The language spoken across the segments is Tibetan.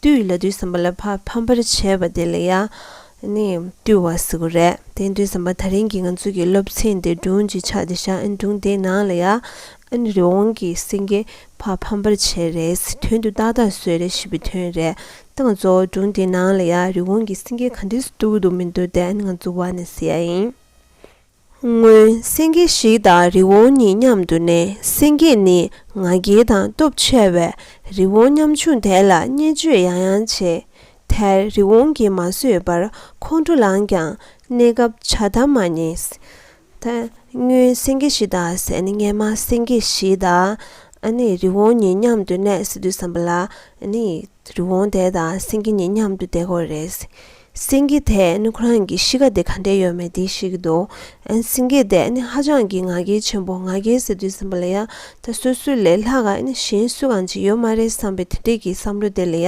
བཏུལ་ལ་དུས་ཟིན་པ་ལ་ཕར་ཕམ་པར་བྱས་པ་དེ་ལ་ཡང་ནི། བཏུལ་བ་ཟེར་གོ་རེད་དེ་དུས་ཟིན་པ་ད་རིང་གི་ང་ཚོ་གི་སློབ་ཚན་དེ་སྒྲུང་གི་ཆ་དེ་བཞག་སྒྲུང་དེའི་ནང་ལ་ཡང། རི་བོང་གི་སེང་གེ་ཕར་ཕམ་པར་བྱས་རེད་དོན་དུ་ཏག་ཏག་བཟོས་རེད་ཞེས་པའི་དོན་རེད་དང་གཙོ་བོ་སྒྲུང་དེའི་ནང་ལ་ཡང་རི་བོང་གི་སེང་གེ་ག་འདྲས་སུ་འདུག་གི་འདུག་མི་འདུག་དེ་ནི་ང་ཚོ་བ་ནས་ཟེར་ཡ་ཡིན། སྔོན་སེང་གེ་བཞི་དང་རི་བོང་གཉིས་མཉམ་དུ་གནས་སེང་གེ་ནི་ང་རྒྱལ་དང་སྟོབས་ཆེ་བས་རི་བོང་མཉམ་ཆུང་དེ་ལ་བརྙས་བཅོས་ཡང་ཡང་བྱས། དེར་རི་བོང་གིས་མ་བཟོད་པར་ཁོང་ཁྲོ་ལངས་ཀྱང་གནས་སྐབས་བྱ་ཐབས་མ་རྙེད། སྔོན་སེང་གེ་བཞི་དང་ཟས་ནི་སྔན་མ་སེང་གེ་བཞི་དང་རི་བོང་གཉིས་མཉམ་དུ་གནས་སྲིད་དུ་བསམ་པ་ལ། རི་བོང་དེ་དང་སེང་གེ་གཉིས་མཉམ་དུ་བསྡད་ཁོ་རེ་སེང་གེ་དེས་ནི་ཁོ་རང་གི་གཤིས་ཀ་དེ་ག་འདྲའི་ཡོད་མེད་དེ་ཤེས་ཀྱི་འདུག་སེང་གེ་དེས་ནི་ཧ་ཅང་གི་ང་རྒྱལ་ཆེན་པོ་ང་རྒྱལ་ཟེར་དུས་ཟིན་པ་ལ་ཡ་ད་སོ་སོའི་ལས་ལྷག་ག་ནི་གཞན་སུས་གང་བྱེད་ཡོད་མ་རེད་བསམ་པའི་དེ་འདྲས་ཀྱི་བསམ་བློ་དེ་ལ་ཡ་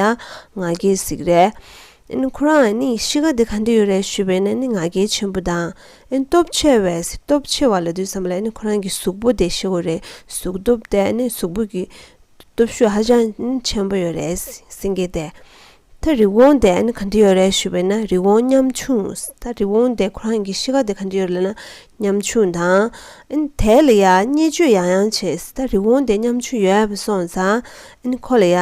ང་རྒྱལ་ཟིག་རེད། ཁོ་རང་ནི་གཤིས་ཀ་དེ་ག་འདྲས་ཡོད་རེད་ཞུས་པས་ན་ནི་ང་རྒྱལ་ཆེན་པོ་དང་སྟོབས་ཆེ་བས་སྟོབས་ཆེ་བ་ལ་དུས་བསམ་པ་ལ་ནི་ཁོ་རང་གི་གཟུགས་པོ་དེ་ཤེས་དགོས་རེད་གཟུགས་སྟོབས་དེ་ནི་གཟུགས་པོ་གི་སྟོབས་ཤུགས་ཧ་ཅང་ཆེན་པོ་ཡོད་རེད་སེང་གེ་དེས། ད་རི་བོང་དེ་ཨ་ནི་ག་འདི་ཡོད་རེད་ཞུས་པས་ན་རི་བོང་ཉམ་ཆུང་ད་རི་བོང་དེ་ཁོ་རང་གི་གཤིས་ཀ་དེ་ག་འདི་ཡོད་རེད་ལ་ཉམ་ཆུང་དང་ཨ་ནི་དེ་ལ་ཡ་བརྙས་བཅོས་ཡང་ཡང་བྱས་ད་རི་བོང་དེ་ཉམ་ཆུང་ཡོད་བ་སོང་ཙང་ཨ་ནི་ཁོ་ལ་ཡ་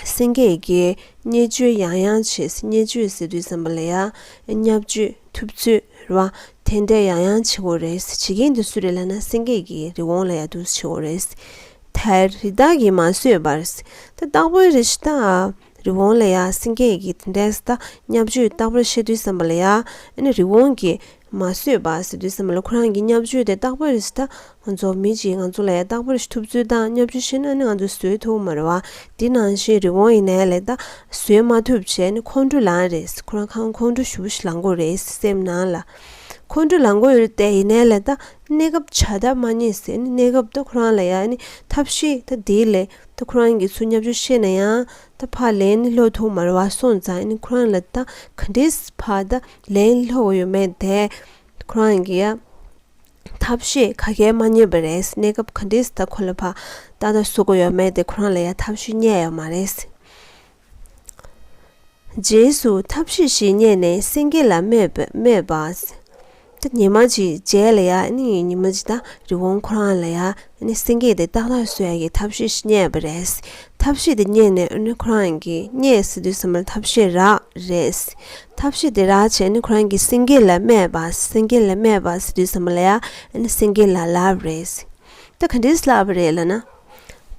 སེང་གེ་ཡི་གེ་བརྙས་བཅོས་ཡང་ཡང་བྱས་བརྙས་བཅོས་ཟེར་དུས་བསམ་པ་ལ་ཡ་བརྙས་བཅོས་ཐུབ་ཚོད་རེད་བ་དེ་འདྲས་ཡང་ཡང་བྱེད་དགོས་རེད་བྱེད་མཁན་དེ་སུ་རེད་ལ་ན་སེང་གེ་ཡི་གེ་རི་བོང་ལ་ཡ་དུས་བྱེད་དགོས་རེད་དལ་རི་དྭགས་ཀྱིས་མ་བཟོད་པར། དེ་རྟག་པོའི་རི་ཞེས་བཏགས། རི་བོང་ལས་ཡ་སེང་གེ་ཡི་གེ་དེ་འདྲས་ད་སྙབ་བཅོས་རྟག་པར་བཤད་དུས་བསམ་པ་ལ་ཡ། ཨེ་ནས་རི་བོང་གིས་མ་བཟོད་པ་ཟེར་དུས་བསམ་པ་ལ་ཁོ་རང་གི་སྙབ་བཅོས་དེ་རྟག་པའི་རི་ཞེས་ད། ང་ཚོ་མི་གཅིག་ང་ཚོ་ལ་ཡ་རྟག་པར་ཤི་ཐུབ་ཚོད་ད་སྙབ་བཅོས་བཤད་ན་ཨེ་ནས་ང་ཚོ་བཟོད་ཐུབ་མ་རེད་བ། དེ་ནང་བཞིན་རི་བོང་ཡི་ནས་ལས་ད་བཟོད་མ་ཐུབ་བྱས་ཨེ་ནས་ཁོང་ཁྲོ་ལངས་རེད་ཁོ་རང་ཁང་ཁོང་ཁྲོ་ཞུ་བ་ཞིག་ལངས་དགོས་རེད་སེམས་ནང་ལ། ཁོང་ཁྲོ་ལངས་དགོས་ཡོད་རེད་དེ་ཡི་ནས་ལས་ད་གནས་སྐབས་བྱ་ཐབས་མ་རྙེད་ཟེར་ནས་གནས་སྐབས་ད་ཁོ་རང་ལ་ཡང་ནི་ཐབས་ཤེས་ད་དེའི་ལས་ད་ཁོ་རང་གིས་ཚུར་སྙབ་ཆོག་ཤེས་ན་ཡང་ད་ཕ་ལན་ནི་སློག་ཐུག་མར་བ་སོང་ཙང་ནི་ཁོ་རང་ལ་ད་ག་འདྲིས་ཕ་ད་ལན་སློག་གོ་ཡོད་མེད་དེ་ཁོ་རང་གིས་ཡ་ཐབས་ཤེས་ག་གལ་མ་རྙེད་པ་རེད་གནས་སྐབས་ག་འདྲིས་ད་ཁོ་ལ་ཕ་ད་ད་བཟོ་གོ་ཡོད་མེད་དེ་ཁོ་རང་ལ་ཡ་ཐབས་ཤེས་རྙེད་ཡོད་མ་རེད། རྗེས་སུ་ཐབས་ཤེས་ཤིག་རྙེད་ནས་སེང་གེ་ལ་སྨྲས་པ། ཉི་མ་ཅིག་མཇལ་ལ་ཡ། ཉི་མ་ཅིག་དང་རི་བོང་ཁོ་རང་ལ་ཡ། སེང་གེས་དེ་ཏག་ཏག་སོས་ཀྱིས་ཐབས་ཤེས་ཤིག་རྙེད་པ་རེད། ཐབས་ཤེས་དེ་རྙེད་ནས་ཁོ་རང་གིས་རྙེད་ཟེར་དུས་ཚང་མ་ཐབས་ཤེས་རག་རེད། ཐབས་ཤེས་དེ་རག་བྱས་ནས་ཁོ་རང་གིས་སེང་གེ་ལ་སྨྲས་པ། སེང་གེ་ལ་སྨྲས་པ་ཟེར་དུས་ཚང་མ་ལ་ཡ། སེང་གེ་ལ་ལབ་རེད། ད་ག་འདྲས་ལབ་པ་རེད་ལབ་ན།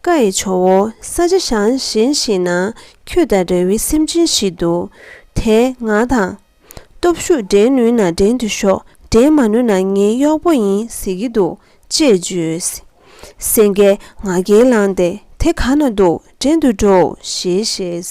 བཀའ་ཡི་ཇོ་བོ་ས་ཆ་བྱང་ཞིང་ཞིག་ན་ཁྱོད་དང་འདྲ་བའི་སེམས་ཅན་ཞིག་འདུག་དེས་ང་དང། སྟོབས་ཤུགས་འགྲན་ནུས་ན་འགྲན་དུ་ཤོག་འགྲན་མ་ནུས་ན་ངའི་གཡོག་པོ་ཡིན་ཟེར་གྱི་འདུག་ཅེས་བརྗོད། སེང་གེས་ང་རྒྱལ་ལངས་ཏེ་དེ་ག་ན་འདུག་འགྲན་དུ་འགྲོའོ་ཞེས་བཤད།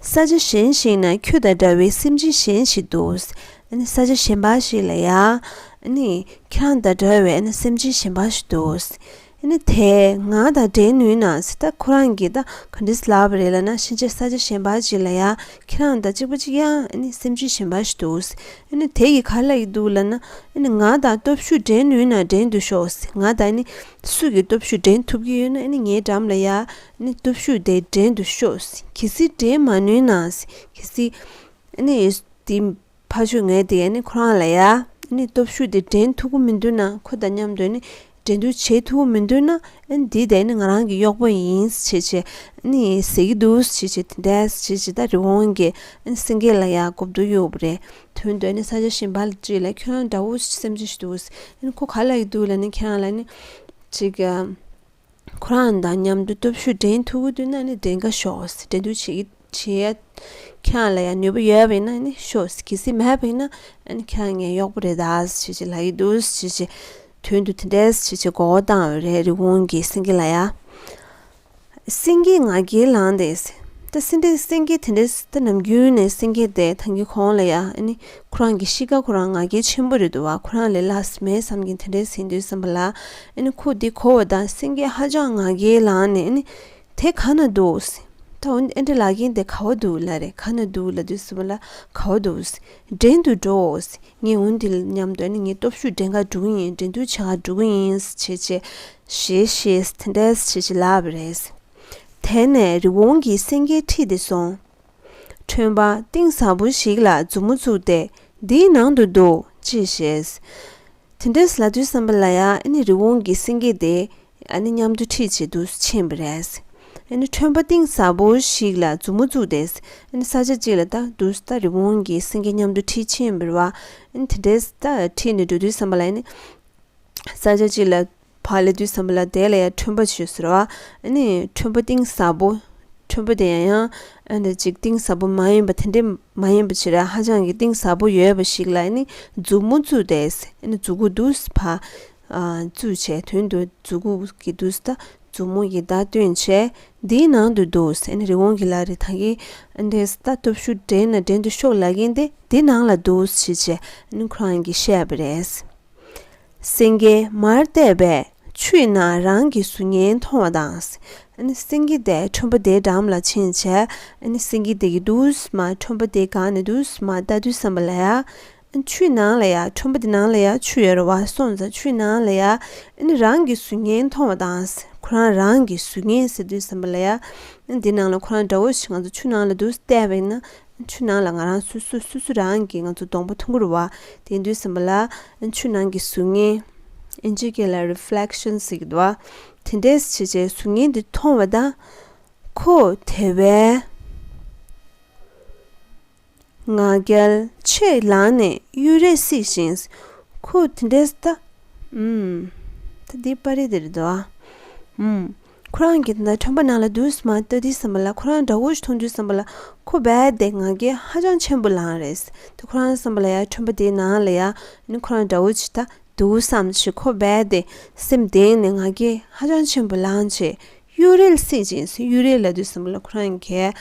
ས་ཆ་གཞན་ཞིག་ན་ཁྱོད་དང་འདྲ་བའི་སེམས་ཅན་གཞན་ཞིག་འདུག། ས་ཆ་གཞན་པ་ཞིག་ལ་ཡང། ཁྱོད་རང་དང་འདྲ་བའི་སེམས་ཅན་གཞན་པ་ཞིག་འདུག། དེས་ང་དང་འབྲལ་ནུས་ན་སྲིད་ད་ཁོ་རང་གིས་ག་འདྲའི་ཟླ་བ་རེ་ལ་ན་ཕྱིན་ཆད་ས་ཆ་གཞན་པ་ཅིག་ལ་ཡང་ཁྱེད་རང་དང་གཅིག་པ་གཅིག་ཡང་སེམས་ཅན་གཞན་པ་ཞིག་འདུག། དེ་ཡིས་ག་ལ་ཡི་འདུག་ལ་ན། ང་དང་སྟོབས་ཤུགས་འབྲལ་ནུས་ན་འབྲལ་འདུག་ཤོག་ང་དང། སུས་ཀྱི་སྟོབས་ཤུགས་འགྲན་ཐུབ་ཀྱི་ཡོད་ན་ནི་ངའི་འགྲམ་ལ་ཡ་ནི་སྟོབས་ཤུགས་དེ་འགྲན་དུ་ཤོག་གལ་སྲིད་འགྲན་མ་ནུས་ན་གལ་སྲིད་ནི་དེ་ཕ་ཆོས་ངས་དེ་ཡ་ནི་ཁོ་རང་ལ་ཡ་ནི་སྟོབས་ཤུགས་དེ་འགྲན་ཐུབ་ཀྱི་མི་འདུག་ན་ཁོ་དང་མཉམ་དུ་ནི་འགྲན་བསྡུར་བྱེད་ཐུབ་ཀྱི་མི་འདུག་ན་འདི་དེ་ནི་ང་རང་གི་གཡོག་པོ་ཡིན་ཞེས་བྱས་ནི་ཟེར་གྱི་འདུག་ཞེས་བྱས་དེ་ལྟར་བྱས་ཇི་ལྟར་རི་བོང་གི་སེང་གེ་ལ་ཡ་གོ་བསྡུར་ཡོད་རེད་དོན་དུ་ནི་ས་ཆ་ཞིམ་པ་ལ་བྲིས་ལ་ཁྱོད་རང་འདྲ་བོ་སེམས་ཅན་ཞིག་འདུག་གསུངས། ཁོ་ག་ལ་ཡི་འདུག་ལ་ནི་ཁྱེད་རང་ལ་ནི། ཅིག། ཁོ་རང་དང་མཉམ་དུ་སྟོབས་ཤུགས་འགྲན་ཐུག་གི་འདུག་ན་ནི་འགྲན་གྱི་ཤོག་ཟེར་འགྲན་བསྡུར་བྱེད་ཀྱི་བྱེད། ཁྱེད་རང་ལ་ཡང་ནུས་པ་ཡོད་པས་ན་ནི་ཤོག་ཟེར་གལ་སྲིད་མེད་པས་ན། ཁྱེད་རང་ངའི་གཡོག་པོ་རེད་ད་ཟེར་གྱི་ལ་ཡི་འདུག་ཟེར་གྱི། དོན་དུ་དེ་འདྲས་ཟེར་གྱི་མགོ་བོ་བཏང་བས་རེད་རི་བོང་གིས་སེང་གེ་ལ་ཡ། སེང་གེའི་ང་རྒྱལ་ལངས་ཏེ། ད་སེང་གེ་སེང་གེ་དེ་འདྲའི་ད་ནམ་རྒྱུན་ནས་སེང་གེ་དེ་ད་གི་གོང་ལ་ཡ་ནི་ཁོ་རང་གི་གཤིས་ཀ་ཁོ་རང་ང་རྒྱལ་ཆེན་པོ་རེད་འདུག་བ་ཁོ་རང་ལས་ལ་ཟིན་མེད་བསམ་གྱིན་དེ་འདྲའི་ཟིན་དུས་བསམ་པ་ལ་ཡ་ནི་ཁོ་འདི་གོ་བ་ད་སེང་གེ་ཧ་ཅང་ང་རྒྱལ་ལངས་ནས་ཡ་ནི་དེ་ག་ན་འདུག་ད་འོན་ཏེ་ཨ་འདྲེ་ལག་རྒན་དེ་ག་བ་འདུག་ལ་རེད་ག་ན་འདུག་ལ་དུས་བསམ་པ་ལ་ག་བ་འདུག་འགྲན་དུ་འགྲོ་འོ་ངས་འོན་ཏེ་ལ་སྙམ་དུ་ཡ་ནི་ངའི་སྟོབས་ཤུགས་འགྲན་ག་འགྲོ་གི་ཡིན་འགྲན་སྡུར་བྱེད་ག་འགྲོ་གི་ཡིན་བྱས་བྱས་ཞེས་བཤད་དེ་འདྲས་བྱེད་བྱེད་ལབ་པ་རེད། དེ་ནས་རི་བོང་གིས་སེང་གེ་ཁྲིད་དེ་སོང། ཁྲོན་པ་གཏིང་ཟབ་པོ་ཞིག་ལ་མཛུབ་མོ་བཙུགས་ཏེ་འདིའི་ནང་དུ་འདུག་ཅེས་བཤད། དེ་འདྲས་ལ་དུས་བསམ་པ་ལ་ཡ་ནི་རི་བོང་གིས་སེང་གེ་དེ་ཨ་ནི་མཉམ་དུ་ཁྲིད་བྱེད་དུ་ཕྱིན་པ་རེད། ཨ་ནི་ཁྲོན་པ་གཏིང་ཟབ་པོ་ཞིག་ལ་མཛུབ་མོ་བཙུགས་ཏེ་ཨ་ནི་ས་ཆ་གཅིག་ལ་ལྟ་འདུག་ད་རི་བོང་གིས་སེང་གེ་མཉམ་དུ་ཁྲིད་ཕྱིན་པར་བ། དེ་འདྲས་ད་ཁྲིད་ནས་འགྲོ་དུས་བསམ་པ་ལ་ཡ་ནི། ས་ཆ་གཅིག་ལ་བག་ལེ་དུས་སམ་བླ་དད་ལ་ཡང་ཁྲོན་པ་བྱོས་ཟེར་བ་ནི་ཁྲོན་པ་གཏིང་ཟབ་པོ་ཁྲོན་པ་དེ་ཡང་ཡང་འདི་ཅིག་གཏིང་ཟབ་པོ་མ་ཡིན་པ་དེ་འདྲས་མ་ཡིན་པ་ཆེ་ར་ཧ་ཅང་གི་གཏིང་ཟབ་པོ་ཡོད་པ་ཞིག་ལ་ནི་མཛུབ་མོ་བཙུད་དེ་ནི་མཛུབ་གུ་དུ་བ་བཙུད་བྱས་དོན་དུ་མཛུབ་གུ་གི་དུ་ད་མཛུབ་མོ་ཡི་ད་སྟོན་བྱས་འདིའི་ནང་དུ་འདུག་ཟེར་ནི་རི་བོང་གི་ལ་རི་ཐང་གི་འདི་ད་སྟོབས་ཤུགས་འགྲན་ན་འགྲན་དུ་ཤོག་ལ་གིན་དེ་འདི་ནང་ལ་འདུག་ཞེས་བྱས་ནི་ཁོ་རང་གིས་བཤད་པ་རེད། སེང་གེ་མར་བལྟས་པས་ཆུའི་ནང་རང་གི་གཟུགས་བརྙན་མཐོང་བ་དང། སེང་གེ་དེས་ཁྲོན་པོ་དེའི་འགྲམ་ལ་ཕྱིན་བྱས། སེང་གེ་དེ་གིས་དུ་བས་མ་ཁྲོན་པོ་དེ་གང་ནས་དུ་བས་མ་ལྟ་དུས་བསམ་པ་ལ་ཡ། ཆུའི་ནང་ལ་ཡ་ཁྲོན་པོ་དེ་ནང་ལ་ཡ་ཆུ་ཡོད་རེད་བ་སོང་ཙང་ཆུའི་ནང་ལ་ཡ། རང་གི་གཟུགས་བརྙན་མཐོང་བ་དང་ཁོ་རང་རང་གི་གཟུགས་བརྙན་ཟེར་དུས་བསམ་པ་ལ་ཡ། འདི་ནང་ལ་ཁོ་རང་འདྲ་བོ་ཞིག་ང་ཚོ་ཆུ་ནང་ལ་དུ་བལྟས་པ་ཡིན་ན། ཆུ་ནང་ལ་ང་རང་སུ་སུ་སུ་སུ་རང་གིས་ང་ཚོ་སྡོང་པོ་འཐུང་གུར་བ་དེ་འདུས་ཟིན་པ་ལ་ཆུ་ནང་གི་གཟུགས་བརྙན། ཨིན་ཇི་སྐད་ལ Reflection ཟེར་གྱི་འདུག་བ། དེ་འདྲས་བྱེད་བྱེད་གཟུགས་བརྙན་དེ་མཐོང་བ་དང། ཁོ་དེ་བས་ང་རྒྱལ་ཆེས་ལངས་ནས་གཡུལ་རེ་བསིགས་ཤིང། ཁོ་དེ་འདྲས་ད། ད་འདི་པར་རིས་དེ་རེད་དོ། ཁོ་རང་གིས་དེ་ལྟར་ཁྲོན་པ་ནང་ལ་དུས་སུ་མ་ལྟ་དུས་སམ་པ་ལ་ཁོ་རང་དགྲ་བོ་ཞིག་མཐོང་དུས་སམ་པ་ལ་ཁོ་རྦད་དེ་ང་རྒྱལ་ཧ་ཅང་ཆེན་པོ་ལངས་རེད་དེ་ཁོ་རང་སམ་པ་ལ་ཡ་ཁྲོན་པ་དེའི་ནང་ལ་ཡ་ནི་ཁོ་རང་དགྲ་བོ་ཅིག་ད་འདུག་བསམ་ཞིག་ཁོ་རྦད་དེ་སེམས་གདེང་ནས་ང་རྒྱལ་ཧ་ཅང་ཆེན་པོ་ལངས་རྗེས་གཡུལ་རལ་བསྲེགས་ཅིང་གཡུལ་རལ་ལ་དུས་སམ་པ་ལ་ཁོ་རང་གིས་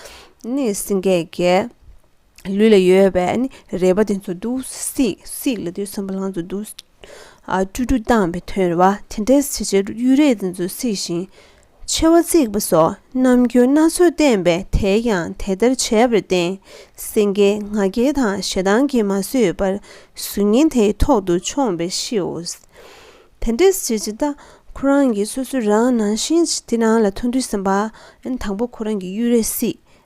ནི་སེང་གེ་རྒྱལ། ལུས་ལ་ཡོད་པའི་ནི་རེག་པ་དེ་ཚོ་བསྡུ། སྲིད་ལ་དུས་སམ་བ་ལང་ཚོ་བསྡུ། སྤྲུལ་སྤྲུལ་སྟངས་པའི་དོན་རེ་བ་དེ་འདྲའི་བྱེད་བྱེད་གཡུལ་རེ་དེ་ཚོ་སྲིད་ཞིང། མཆེ་བ་གཙིགས་པ་སོགས་རྣམ་འགྱུར་སྣ་ཚོགས་བསྟན་པས་དེས་ཀྱང་དེ་ལྟར་བྱས་པར་བརྟེན། སེང་གེའི་ང་རྒྱལ་དང་ཞེ་སྡང་གིས་མ་བཟོད་པར་གཟུགས་བརྙན་དེའི་ཐོག་ཏུ་མཆོངས་པས་ཤིའོ། དེ་འདྲའི་བྱེད་བྱེད་ལྟ་ཁོ་རང་གིས་སོ་སོ་རང་ནང་བཞིན་གྱི་དེ་རང་ལ་མཐོང་དུས་སམ་བ་ལང་དང་པོ་ཁོ་རང་གི་གཡུལ་རེ་སྲིད།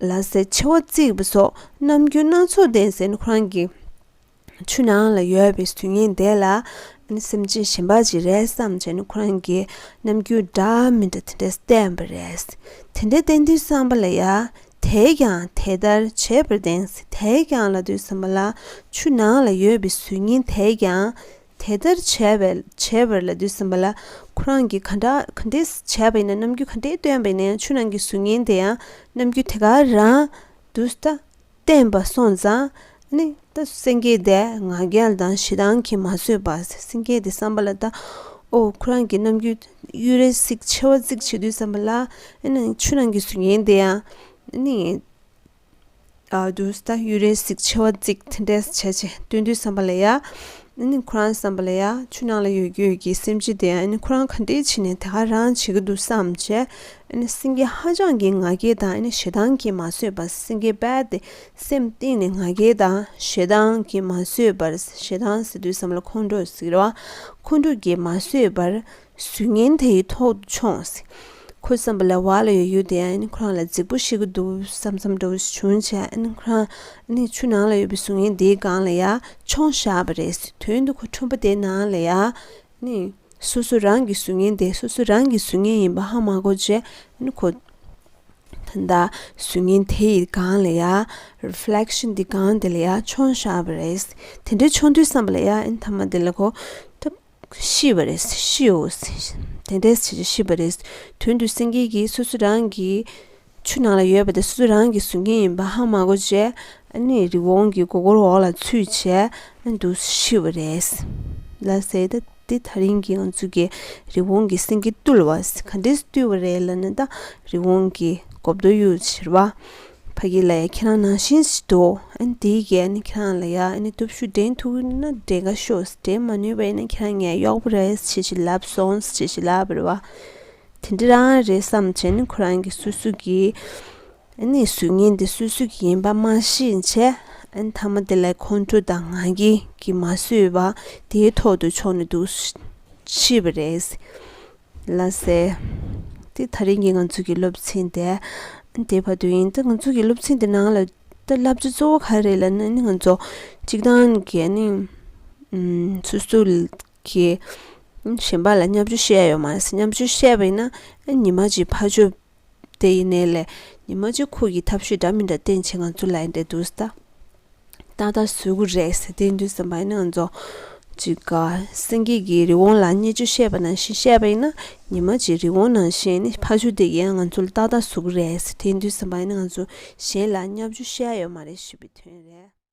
ལ་སའི་ཆེ་བ་བརྩིགས་པ་སོགས་ནམ་རྒྱུན་སྣ་ཚོགས་ལྡན་ཟེར་ཁོ་རང་གི་ཆུ་ནང་ལ་ཡོད་པའི་དུས་ངན་དེ་ལ་སེམས་ཅན་གཞན་པ་ཅིག་རེད་བསམ་བྱས་ན་ཁོ་རང་གི་ནམ་རྒྱུན་འདྲ་མི་འདྲ་དེ་འདྲ་བསྟན་པ་རེད། དེ་འདྲ་བསྟན་དུས་བསམ་པ་ལ་ཡ་དེས་ཀྱང་དེ་ལྟར་བྱས་པར་བདེན་ཟེར་དེས་ཀྱང་ལ་དུས་བསམ་པ་ལ་ཆུ་ནང་ལ་ཡོད་པའི་གཟུགས་བརྙན་དེས་ཀྱང་དེ་ལྟར་བྱས་པས་བྱས་པར་ལ་དུས་ཟིན་པ་ལ་ཁོ་རང་གིས་ག་འདྲ་ག་འདྲས་བྱས་པ་ཡིན་ན་རྣམ་འགྱུར་ག་འདྲས་སྟོན་པ་ཡིན་ན་ཡང་ཆུ་ནང་གི་གཟུགས་བརྙན་དེ་ཡང་རྣམ་འགྱུར་དེ་ག་རང་དུ་ལྟ་བསྟན་པ་སོང་ཙང་ནི་ད་སེང་གེ་དེས་ང་རྒྱལ་དང་ཞེ་སྡང་གིས་མ་བཟོད་པར་སེང་གེ་དེ་བསམ་པ་ལ་ད་ཨོ་ཁོ་རང་གིས་རྣམ་འགྱུར་གཡུ་རལ་གསིག་མཆེ་བ་གཙིགས་བྱེད་དུས་བསམ་པ་ལ་ཨ་ནི་ཆུ་ནང་གི་གཟུགས་བརྙན་དེ་ཡང་ཨ་ནི། དུས་ད་ཡུལ་རེ་ཟིག་མཆེ་བ་གཙིགས་ཐེ་འདྲས་བྱས་བྱས་སྟོན་དུས་བསམ་པ་ལ་ཡ་ཨ་ནི་ཁོ་རང་བསམ་པ་ལ་ཡ་ཆུ་ནང་ལ་ཡོད་ཀྱི་ཡོད་ཀྱི་སེམས་ཀྱི་དེ་ཨ་ནི་ཁོ་རང་ག་འདྲས་བྱེད་ནས་དེ་ག་རང་བྱེད་ཀྱི་འདུག་བསམ་བྱས་ཨ་ནི་སེང་གེ་ཧ་ཅང་གི་ང་རྒྱལ་དང་ཨ་ནི་ཞེ་སྡང་གིས་མ་བཟོད་པར་སེང་གེ་རྦད་དེ་སེམས་གཏིང་ནས་ང་རྒྱལ་དང་ཞེ་སྡང་གིས་མ་བཟོད་པར་ཞེ་སྡང་ཟེར་དུས་བསམ་བློ་ཁོང་ཁྲོ་ཟེར་བ་ཁོང་ཁྲོ་གིས་མ་བཟོད་པར་གཟུགས་བརྙན་དེའི་ཐོག་ཏུ་མཆོངས། ཁོའི་བསམ་པ་ལ་བ་ལ་ཡོད་ཡོད་དེ་ཨ་ནེ་ཁོ་རང་ལ་རྫིག་པོ་ཤི་གི་འདུག་བསམ་བསམ་འགྲོ་བ་ཞིག་བྱུང་བྱས་ཨ་ནེ་ཁོ་རང་ཨ་ནེའི་ཆུ་ནང་ལ་ཡོད་པའི་གཟུགས་བརྙན་དེའི་སྒང་ལ་ཡར་མཆོངས་བཞག་པ་རེད་དོན་དུ་ཁོ་ཁྲོན་པོ་དེའི་ནང་ལ་ཡར་ནི། སོ་སོ་རང་གི་གཟུགས་བརྙན་དེ་སོ་སོ་རང་གི་གཟུགས་བརྙན་ཡིན་པ་ཧ་མ་གོ་བྱས་ཨ་ནེ་ཁོ། ད་ལྟ་གཟུགས་བརྙན་དེ་ཡི་སྒང་ལ་ཡར། Reflection། དེའི་སྒང་དེ་ལ་ཡར་མཆོངས་བཞག་པ་རེད། དེ་འདྲའི་མཆོངས་དུས་བསམ་པ་ལ་ཡར་ཨ་ནེ་ཐ་མ་དེ་ལ་ཁོ། ཤི་བ་རེད། ཤིའོ། དེ་འདྲའི་བྱེད་ཆོས་ཤི་བ་རེད། དོན་དུ་སེང་གེ་གིས་སོ་སོ་རང་གི་ཆུ་ནང་ལ་ཡོད་པ་དེ་སོ་སོ་རང་གིས་ཟོས་ཀྱིན་ཡིན་པ་ཧ་མ་གོ་བྱས། ཨ་ནི་རི་བོང་གི་མགོ་སྐོར་འོག་ལ་ཚུད་བྱས་འདུག་ཤི་བ་རེད། ལ་ཟེར་ད་འདི་ཐག་རིང་གི་ང་ཚོ་གིས་རི་བོང་གིས་སེང་གེ་བཏུལ་བ་ག་འདྲས་བཏུལ་བ་རེད་ལ་ན་ད་རི་བོང་གིས་གོབ་རྡོ་གཡུག་ཟེར་བ། ཕ་གི་ལ་ཡ་ཁྱེད་རང་ནང་བཞིན་ཟིག་འདུག་ཨན་དེའི་གས་ཨན་ཁྱེད་རང་ལ་ཡ་ཨན་སྟོབས་ཤུགས་འདྲེན་ཐུག་ན་འདྲེན་ག་ཤོག་འདྲེན་མ་ནུས་པ་ཨན་ཁྱེད་རང་ངའི་གཡོག་པོ་རེད་ཅེས་བྱིན་རླབས་སོང་ཅེས་བྱིན་རླབས་བར་བ་དེ་འདྲ་རང་རེད་བསམ་བྱས་ནས་ཁོ་རང་གི་སུད་སུད་ཀྱི་ཨན་གཟུགས་བརྙན་དེ་སུད་སུད་ཀྱི་ཡིན་པ་མ་ཤེས་བྱས་ཨན་མཐའ་མ་དེ་ལ་ཁོང་ཁྲོ་དང་ང་རྒྱལ་གྱིས་མ་བཟོད་པ་དེའི་ཐོག་ཏུ་ཕྱོགས་ནས་འདུག་ཤི་བ་རེད། ལ་ཟེར། དེ་ད་རིང་གི་ང་ཚོ་གི་སློབ་ཚན་དེ་དེ་བར་དུ་ཡིན་ད་ང་ཚོ་གི་སློབ་ཚན་དེ་ནང་ལ་ད་བསླབ་བྱ་གཙོ་བོ་ག་རེད་ལ་ནི་ང་ཚོ་གཅིག་ཐང་གི་ནི་སོ་སོ་གི་གཞན་པ་ལ་མཉམ་བཅོས་བཤད་ཡོད་མ་ཟད་མཉམ་བཅོས་བཤད་པ་ཡིན་ན་ཉིན་མ་གཅིག་ཕར་ཕྱོགས་དེ་ཡིན་ནའི་ལས། ཉི་མ་གཅིག་ཁུག་གི་ཐབས་ཤུས་འདྲ་མི་འདྲ་བསྟེན་བྱེད་ང་ཚོ་ལ་ཡིན་ཏེ་འདུག་ཟད། ཏག་ཏག་ཟོལ་གུ་རེད་ཟེར་དེའི་མདུན་སེམས་པ་ཡིན་ན་ང་ཚོ། ཅིག་ག་སེང་གེ་གི་རི་བོང་ལ་བརྙས་བཅོས་བཤད་པ་ནང་བཞིན་བཤད་པ་ཡིན་ན། ཉི་མ་གཅིག་རི་བོང་ནང་བཞིན་ནི་ཕ་ཆུ་འདེགས་ཡང་ང་ཚོ་ལ་ཏག་ཏག་ཟོལ་གུ་རེད་ཟེར་དེའི་མདུན་སེམས་པ་ཡིན་ན་ང་ཚོ་གཞན་ལ་བརྙས་བཅོས་བཤད་ཡོད་མ་རེད་ཞེས་པའི་དོན་རེད།